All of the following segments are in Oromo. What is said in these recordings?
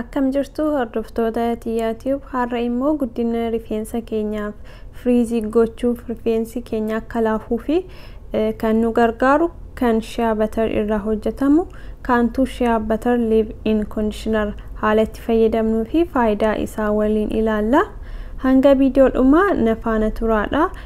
Akkam jirtu hordoftoota Tiyyaa Tiyuub har'a immoo guddina rifeensa keenyaaf firiizii gochuuf rifeensi keenya akka laafuu fi kan nu gargaaru kan shea butter irraa hojjetamu kaantuu shea butter live in conditioner haala itti fayyadamnuu fi faayidaa isaa waliin ilaalla. Hanga viidiyoo dhumaa na faana turaadha.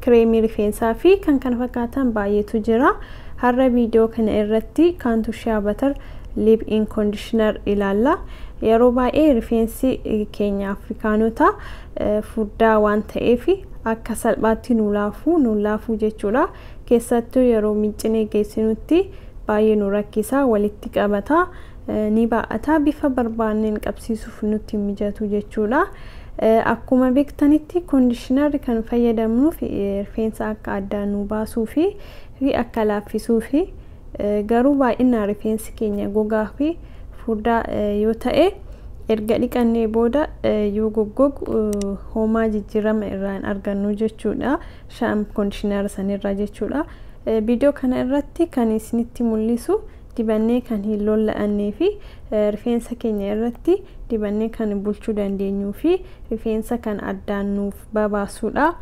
kireemii rifeensaa fi kan kana fakkaatan baay'eetu jira. Har'a viidiyoo kana irratti kaantu shea butter lip in conditioner ilaalla. Yeroo baay'ee rifeensi keenya Afrikaanota furdaa waan ta'eef akka salphaatti nu laafuu nu laafuu jechuudha. Keessattuu yeroo miiccinee geessinutti baay'ee nu rakkisa walitti qabata. ni baay'ata. Bifa barbaanneen qabsiisuuf nutti hin mijatu jechuudha. Akkuma beektanitti koondishinarri kan fayyadamnuuf rifeensa akka addaan nu baasuu fi akka laaffisuufi. Garuu baay'inaan rifeensi keenya gogaa fi furdaa yoo ta'e erga dhiqannee booda yoo goggogu hoomaa jijjiirama irraa hin argannu jechuudha. Shaam koondishinara sanirraa jechuudha. Viidiyoo kana irratti kan isinitti mul'isu dibannee kan hin lolla'annee fi rifeensa keenya irratti dibannee kan bulchuu dandeenyuu fi rifeensa kan addaan nuuf babaasuudha.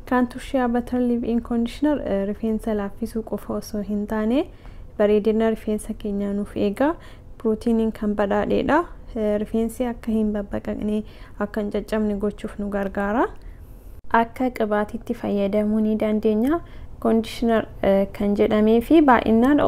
Kaantuu Shea Butter Leave-In Conditioner rifeensa laaffisuu qofa osoo hin taane bareedina rifeensa keenyaa nuuf eega. Pirootiiniin kan badhaadheedha. Rifeensi akka hin babbaqaqne, akka hin caccabne gochuuf nu gargaara. akka qibaatiitti fayyadamuu ni dandeenya. Conditioner kan jedhamee fi baay'inaan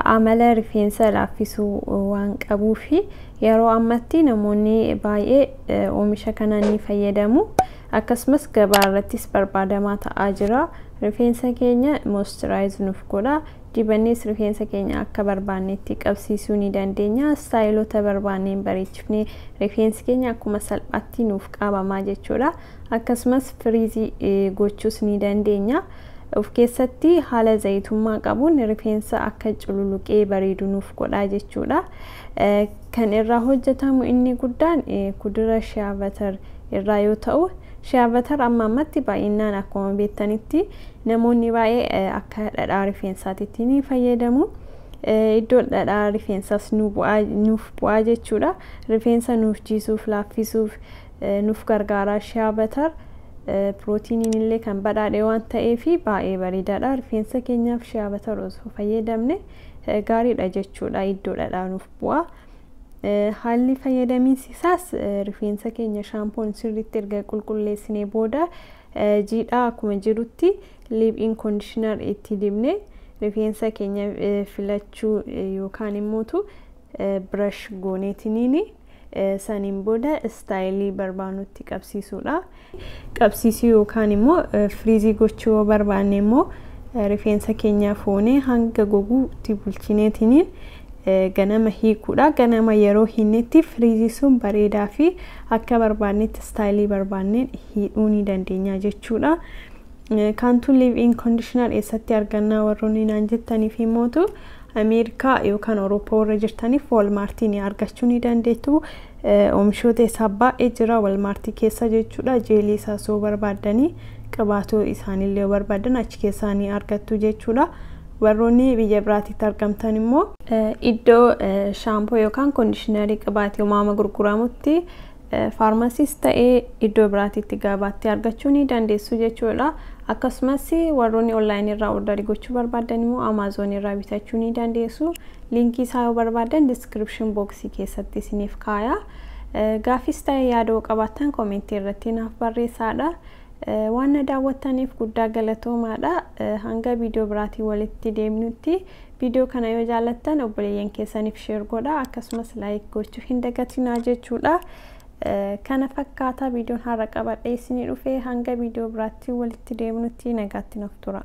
amala rifeensa laaffisuu waan qabuu fi yeroo ammatti namoonni baay'ee oomisha kana ni fayyadamu. Akkasumas gabaa irrattis barbaadamaa ta'aa jira. Rifeensa keenya moisturize nuuf godha. Dibannees rifeensa keenya akka barbaannetti qabsiisuu ni dandeenya. Istaayilota barbaanneen bareechifnee rifeensi keenya akkuma salphaatti nuuf qaabamaa jechuudha. Akkasumas firiizii gochuus ni dandeenya. Of keessatti haala zayitummaa qabuun rifeensa akka cululuqee bareedu nuuf godhaa jechuudha. Kan irraa hojjetamu inni guddaan kudura shiyaa batar irraa yoo ta'u, shiyaa batar amma ammatti baay'inaan akkuma beektanitti Namoonni baay'ee akka dhadhaa rifeensaatitti ni fayyadamu. Iddoon dhadhaa rifeensaas nuuf bu'aa jechuudha. Rifeensa nuuf jiisuuf, laaffisuuf nuuf gargaara. Shiyaa batar pirootiiniin illee kan badhaadhe waan ta'eef baay'ee bareedaadha. Rifeensa keenyaaf shiyaa batar osoo fayyadamne gaariidha jechuudha. Iddoo dhadhaa nuuf bu'aa. Haalli fayyadamiinsi isaas rifeensa keenya shaampoon sirriitti erga qulqulleessinee booda jiidhaa akkuma jirutti liiphiin koondishinaar itti dibne rifeensa keenya filachuu yookaan immootu birash gooneetiniini saniin booda istaayilii barbaanutti qabsiisuudha. qabsiisuu yookaan immoo firiizii gochuu yoo barbaanne immoo rifeensa keenyaa foonee hanga goguutti bulchineetiniin ganama hiikuudha. Ganama yeroo hiinnetti firiizii sun bareedaa fi akka barbaannetti istaayilii barbaanneen hiidhuu ni dandeenya jechuudha. Kaantuu liiv in koondishinaar eessatti argannaa warroonni naan jettaniif himmootu Ameerikaa yookaan Awurooppaa warra jirtaniif Waalmaartii ni argachuu ni dandeettu. Oomishoota isaa baay'ee jira walmaartii keessa jechuudha. Jeelii isaas yoo barbaaddani qibaatuu isaanillee yoo barbaaddan achi keessaa ni argattu jechuudha. Warroonni biyya biraatitti argamtan immoo iddoo shaampoo yookaan koondishinarii qibaatii umaama gurguramutti faarmasiis ta'ee iddoo biraatitti gabaatti argachuu ni dandeessu jechuudha. Akkasumas warroonni onlaayinii irraa ordarii gochuu barbaaddan immoo amaazoonii irraa bitachuu ni dandeessu. Liinkii isaa yoo barbaaddan description box keessatti isiniif kaaya. Gaaffiis ta'e yaada yoo qabaattan komentii irratti naaf barreessaadha. Waan na daawwattaniif guddaa galatoomaadha. Hanga viidiyoo biraatiin walitti deemnutti viidiyoo kana yoo jaallattan obboleeyyan keessaniif sheer godha akkasumas laayik gochuu hin dagatinaa jechuudha. Kana fakkaata viidiyoon har'a qabadhee isinii dhufe hanga viidiyoo biraatti walitti deemnutti nagaatti nuuf tura.